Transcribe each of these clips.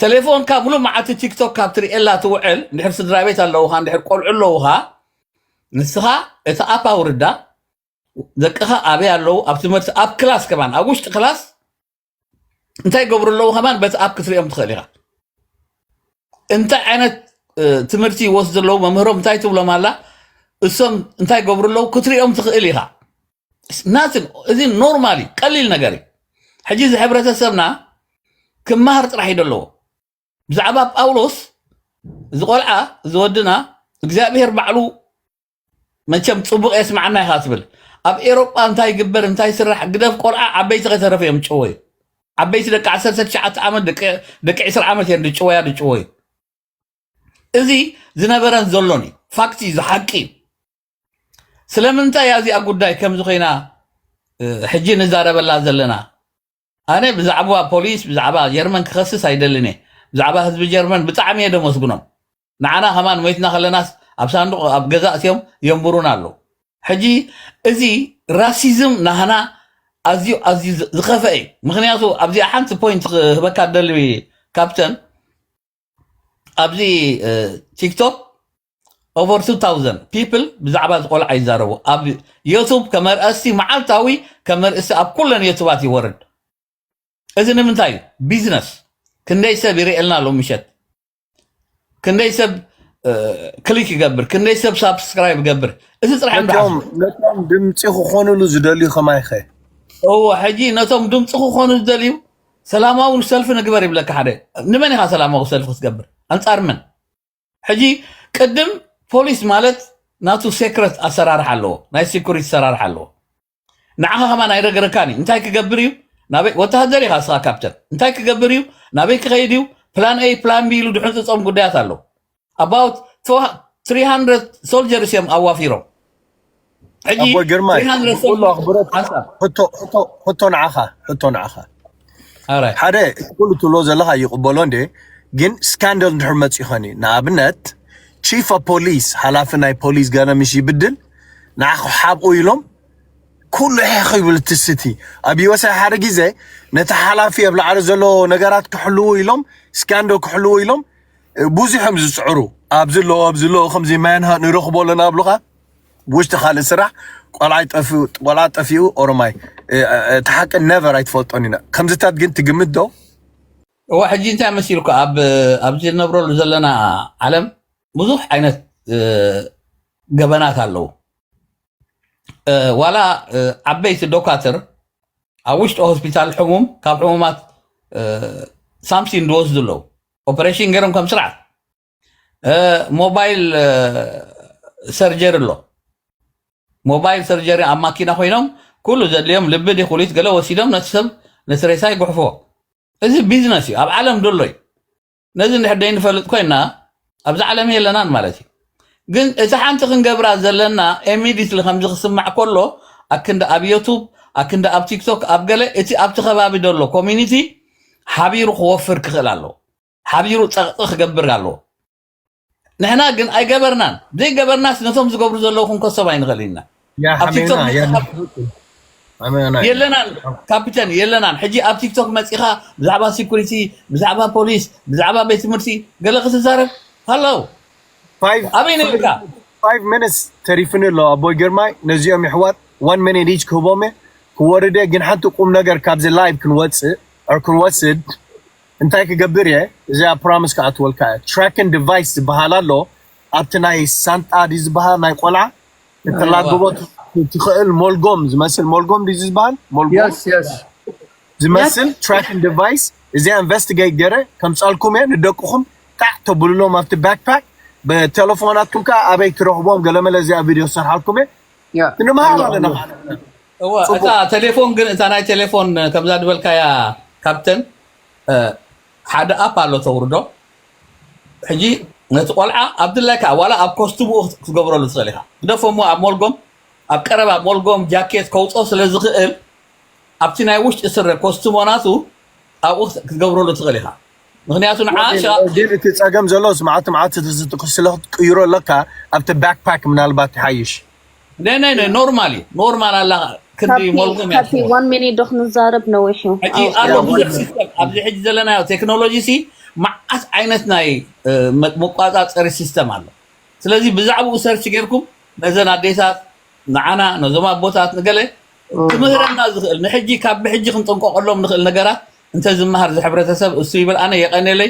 ተሌፎንካ ምሉእ መዓልቲ ቲክቶክ ካብ ትርእየላ ትውዕል እንድሕር ስድራ ቤት ኣለውኻ እንድሕር ቆልዑ ኣለውኻ ንስኻ እቲ ኣፕ ኣውርዳ ደቅኻ ኣበይ ኣለዉ ኣብ ትምህርቲ ኣብ ክላስ ከማን ኣብ ውሽጢ ክላስ እንታይ ገብሩ ኣለዉ ከማን በቲ ኣፕ ክትሪኦም ትኽእል ኢኻ እንታይ ዓይነት እ፣ ትምህርቲ ይወስዱ ኣለዉ መምህሮም እንታይ ትብሎም ኣላ እሶም እንታይ ገብሩ ኣለዉ ክትሪኦም ትኽእል ኢኻ ናትን እዚ ኖርማል እዩ ቀሊል ነገር እዩ ሕጂ እዚ ሕብረተሰብና ክመሃር ጥራሕ እዩ ዘለዎ ብዛዕባ ጳውሎስ እዚ ቆልዓ እዚ ወድና እግዚኣብሄር ባዕሉ መቸም ጽቡቕ የስምዓና ኢኻ ትብል ኣብ ኤሮጳ እንታይ ይግበር እንታይ ይስራሕ ግደፍ ቆልዓ ዓበይቲ ከተረፈ እዮም ጭወዩ ዓበይቲ ደቂ 19 ዓመት ደቂ ደቂ 20 ዓመት እዮም ድጭወያ ድጭወዩ እዚ ዝነበረን ዘሎን እዩ ፋክት እዩ እዚ ሓቂ እዩ ስለምንታይ እያ እዚኣ ጉዳይ ከምዚ ኮይና እ፣ ሕጂ ንዛረበላ ዘለና ኣነ ብዛዕባ ፖሊስ ብዛዕባ ጀርመን ክኸስስ ኣይደልን እየ ብዛዕባ ህዝቢ ጀርመን ብጣዕሚ እየ ደመስግኖም ንዓና ከማን ሞይትና ከለናስ ኣብ ሳንዱቕ ኣብ ገዛ እትዮም የንብሩና ኣለዉ ሕጂ እዚ ራሲዝም ናህና ኣዝዩ ኣዝዩ ዝ- ዝኸፍአ እዩ ምክንያቱ ኣብዚኣ ሓንቲ ፖይንት ክህበካ ደሊ ካፕተን ኣብዚ ቲክቶክ ኦቨር 2000 ፒፕል ብዛዕባ እዚ ቆልዓ ይዛረቡ ኣብ ዩቱብ ከመርእስቲ መዓልታዊ ከመርእስቲ ኣብ ኩለን ዩቱባት ይወርድ እዚ ንምንታይ እዩ ቢዝነስ ክንደይ ሰብ ይርእየልና ኣሎ ምሸት ክንደይ ሰብ ክሊክ ይገብር ክንደይ ሰብ ሳብስክራይብ ይገብር እዚ ፅራሕ ንቶም ድምፂ ክኾኑሉ ዝደልዩ ከማይኸ እዎ ሕጂ ነቶም ድምፂ ክኾኑ ዝደልዩ ሰላማዊ ሰልፊ ንግበር ይብለካ ሓደ ንመን ኢኻ ሰላማዊ ሰልፊ ክትገብር ኣንጻር መን ሕጂ ቅድም ፖሊስ ማለት ናቱ ሴክረት ኣሰራርሓ ኣለዎ ናይ ሴኩሪቲ ኣሰራርሓ ኣለዎ ንዓኻ ከማን ኣይረገረካን እዩ እንታይ ክገብር እዩ ናበይ ወተሃደር ኢኻ ስኻ ካፕተን እንታይ ክገብር እዩ ናበይ ክኸይድ እዩ ፕላን ኤ ፕላን ቢ ኢሉ ድሕንፅፆም ጉዳያት ኣለዉ ኣባውት ትሪ ሃንድረድ ሶልጀርስ እዮም ኣዋፊሮም ሕጂ ኣቦይ ግርማይ ትሪ ሃንድረድ ብኩሉ ሶልጀርስ ኣኽብሮት ሓንሳብ ሕቶ ሕቶ ሕቶ ንዓኻ ሕቶ ንዓኻ ኣራይ ሓደ እቲ ኩሉ ትብሎ ዘለኻ ይቕበሎ እንደ ግን ስካንደል እንድሕር መፅኡ ኸኒ ንኣብነት ቺፍ ኦፍ ፖሊስ ሓላፊ ናይ ፖሊስ ገለ ምስ ይብድል ንዓኹ ሓብኡ ኢሎም ኩሉ ሕሕ ይብል እቲ ስቲ ኣብ ዩኤስኤ ሓደ ግዜ ነቲ ሓላፊ ኣብ ላዕሊ ዘሎ ነገራት ክሕልዉ ኢሎም ስካንዶ ክሕልዉ ኢሎም ብዙሕ እዮም ዝፅዕሩ ኣብዚ ኣለዎ ኣብዚ ኣለዎ ከምዚ ማያንሃ ንረኽቦ ኣለና ኣብሉኻ ውሽጢ ካልእ ስራሕ ቆልዓይ ጠፊኡ ቆልዓ ጠፊኡ ኦሮማይ እቲ ሓቂ ነቨር ኣይትፈልጦን ኢና ከምዚታት ግን ትግምት ዶ እዋ ሕጂ እንታይ መሲልኩ ኣብ ኣብዚ ንነብረሉ ዘለና ዓለም ብዙሕ ዓይነት እ፣ ገበናት ኣለዉ እ፣ ዋላ እ፣ ዓበይቲ ዶካትር ኣብ ውሽጢ ሆስፒታል ሕሙም ካብ ሕሙማት እ፣ ሳምሲን ዝወስዱ ኣለዉ ኦፐሬሽን ገይሮም ከም ስርዓት ሞባይል ሰርጀሪ ኣሎ ሞባይል ሰርጀሪ ኣብ ማኪና ኮይኖም ኩሉ ዘድልዮም ልቢ ዲ ኩሊት ገለ ወሲዶም ነቲ ሰብ ነቲ ሬሳ ይጉሕፍዎ እዚ ቢዝነስ እዩ ኣብ ዓለም ደሎ እዩ ነዚ እንድሕር ደይንፈልጥ ኮይና ኣብዚ ዓለም የለናን ማለት እዩ ግን እቲ ሓንቲ ክንገብራ ዘለና ኢሚዲትሊ ከምዚ ክስማዕ ከሎ ኣክንዲ ኣብ ዮቱብ ኣክንዲ ኣብ ቲክቶክ ኣብ ገለ እቲ ኣብቲ ከባቢ ዘሎ ኮሚኒቲ ሓቢሩ ክወፍር ክኽእል ኣለዎ ሓቢሩ ፀቕጢ ክገብር ኣለዎ ንሕና ግን ኣይገበርናን ዘይገበርናስ ነቶም ዝገብሩ ዘለዉ ክንከሶም ኣይንኽእልን ኢና ኣብ ቲክቶክ የለናን ካፒተን የለናን ሕጂ ኣብ ቲክቶክ መፂኻ ብዛዕባ ሴኩሪቲ ብዛዕባ ፖሊስ ብዛዕባ ቤት ትምህርቲ ገለ ክትዛረብ ሃለው ኣበይ ነርካ ፋይቭ ሚኒትስ ተሪፍኒ ኣሎ ኣቦይ ግርማይ ነዚኦም ይሕዋት ዋን ሚኒት ኢች ክህቦም እየ ክወርደ ግን ሓንቲ ቁም ነገር ካብዚ ላይቭ ክንወፅእ ኦር ክንወስድ እንታይ ክገብር እየ እዚኣ ፕሮሚስ ክኣትወልካ እየ ትራክን ዲቫይስ ዝበሃል ኣሎ ኣብቲ ናይ ሳንጣ ድዩ ዝበሃል ናይ ቆልዓ ከተላግቦ ት- ትኽእል ሞልጎም ዝመስል ሞልጎም ድዩ ዝበሃል ሞልጎም የስ የስ Yes. ዝመስል ትራኪንግ ዲቫይስ እዚኣ ኢንቨስቲጌት ገረ ከምፃልኩም እየ ንደቅኹም ጣዕ ተብልሎም ኣብቲ ባክፓክ ብቴሌፎናትኩም ከዓ ኣበይ ትረኽቦም ገለመለ እዚኣ ቪድዮ ዝሰርሓልኩም እየ ያ ክንምሃር ኣሎ፣ ኣለና ኣሎ። ማለት እዩ። እወ እታ ፅቡቅ ቴሌፎን ግን እታ ናይ ቴሌፎን ከምዛ ዝበልካያ ካፕተን እ፣ ሓደ ኣፕ ኣሎ ተውርዶ ሕጂ ነቲ ቆልዓ ኣብ ድላይካ ዋላ ኣብ ኮስትምኡ ክትገብረሉ ትኽእል ኢኻ። ግደፎ እሞ ኣብ ሞልጎም ኣብ ቀረባ ሞልጎም ጃኬት ከውጽኦ ስለ ዝኽእል ኣብቲ ናይ ውሽጢ ስረ ኮስትሞ ናቱ ኣብኡ ክትገብረሉ ትኽእል ኢኻ። ምኽንያቱ ንዓ ወዲ ሸ ግን እቲ ጸገም ዘሎስ መዓልቲ መዓልቲ ትዝ- ስለ ክትቅይሮ ኣለካ ኣብቲ ባክፓክ ምናልባት ይሓይሽ ናይ ናይ ናይ ኖርማል እዩ ኖርማል ኣላ ክንዲ ሞልጎም እያ ካብቲ ትኸውን ዋን ሚኒት ዶ ክንዛረብ ነዊሕ እዩ ሕጂ ኣው ኣሎ ኣው ብዙሕ ሲስተም ኣብዚ ሕጂ ዘለናዮ ቴክኖሎጂ ሲ መዓት ዓይነት ናይ እ፣ መ- መቆፃፀሪ ሲስተም ኣሎ ስለዚ ብዛዕባኡ ሰርች ጌርኩም ነዘን ኣዴታት ንዓና ነዞም ኣቦታት ንገለ ክምህረና ዝኽእል ንሕጂ ካብ ብሕጂ ክንጥንቀቐሎም ንኽእል ነገራት እንተዝመሃር ዝሕብረተሰብ እሱ ይብል ኣነ የቐኔለይ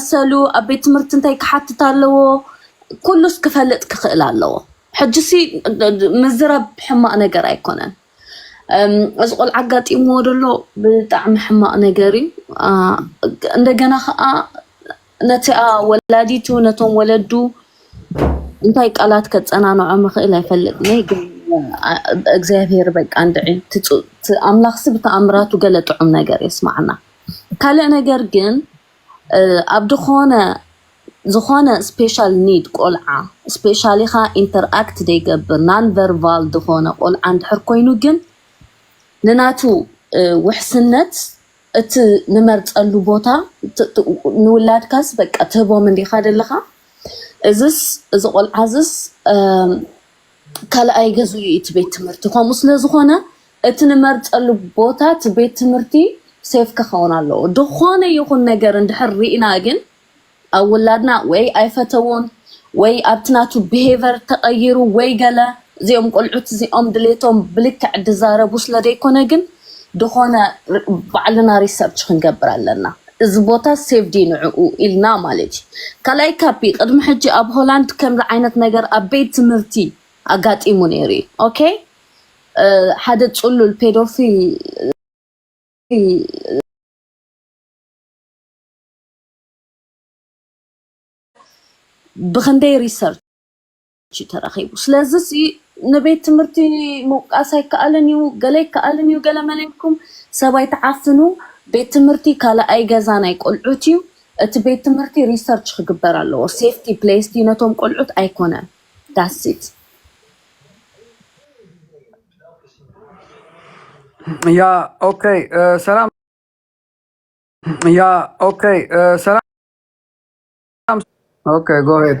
መሰሉ ኣብ ቤት ትምህርቲ እንታይ ክሓትት ኣለዎ ኩሉስ ክፈልጥ ክኽእል ኣለዎ። ሕጂሲ ምዝራብ ሕማቕ ነገር ኣይኮነን። እዚ ቆልዓ ኣጋጢምዎ ደሎ ብጣዕሚ ሕማቕ ነገር እዩ እንደገና ከዓ ነቲኣ ወላዲቱ ነቶም ወለዱ እንታይ ቃላት ከፀናንዖ ምኽእል ኣይፈልጥኒ ግን እግዚኣብሔር በቃ እንድዒ ኣምላኽሲ ብተኣምራቱ ገለ ጥዑም ነገር የስማዕና ካልእ ነገር ግን ኣብ ድኾነ ዝኾነ ስፔሻል ኒድ ቆልዓ ስፔሻሊ ኻኣ ኢንተር ኣክት ደይገብር ናን ቨርቫል ድኾነ ቆልዓ እንድሕር ኮይኑ ግን ንናቱ ውሕስነት እቲ ንመርጸሉ ቦታ ንውላድካስ በቃ ትህቦም እንዲኻ ደለኻ እዝስ እዚ ቆልዓዝስ ካልኣይ ገዝኡ እዩ እቲ ቤት ትምህርቲ። ከምኡ ስለ ዝኾነ እቲ ንመርጸሉ ቦታ እቲ ቤት ትምህርቲ ሴፍ ክኸውን ኣለዎ። ዝኾነ ይኹን ነገር እንድሕር ርኢና ግን ኣብ ውላድና ወይ ኣይፈተዎን ወይ ኣብቲ ናቱ ብሄቨር ተቐይሩ ወይ ገለ እዚኦም ቆልዑት እዚኦም ድሌቶም ብልክዕ ድዛረቡ ስለ ደይኮነ ግን ድኾነ ባዕልና ሪሰርች ክንገብር ኣለና እዚ ቦታ ሴቭ ድዩ ንዕኡ ኢልና ማለት እዩ ካልኣይ ካፒ ቅድሚ ሕጂ ኣብ ሆላንድ ከምዚ ዓይነት ነገር ኣብ ቤት ትምህርቲ ኣጋጢሙ ነይሩ እዩ ኦኬ ሓደ ጽሉል ፔዶፊል ብክንደይ ሪሰርች እዩ ተረኺቡ። ስለዚሲ ንቤት ትምህርቲ ምውቃስ ኣይከኣልን እዩ፣ ገለ ይከኣልን እዩ ገለመለ ኢልኩም ሰብ ኣይትዓፍኑ። ቤት ትምህርቲ ካልኣይ ገዛ ናይ ቆልዑት እዩ። እቲ ቤት ትምህርቲ ሪሰርች ክግበር ኣለዎ። ሴፍቲ ፕሌስ ድዩ ነቶም ቆልዑት ኣይኮነን። That's it። ያ ኦከይ ሰላም ያ ኦከይ ሰላም ኦከይ ጎ ሄድ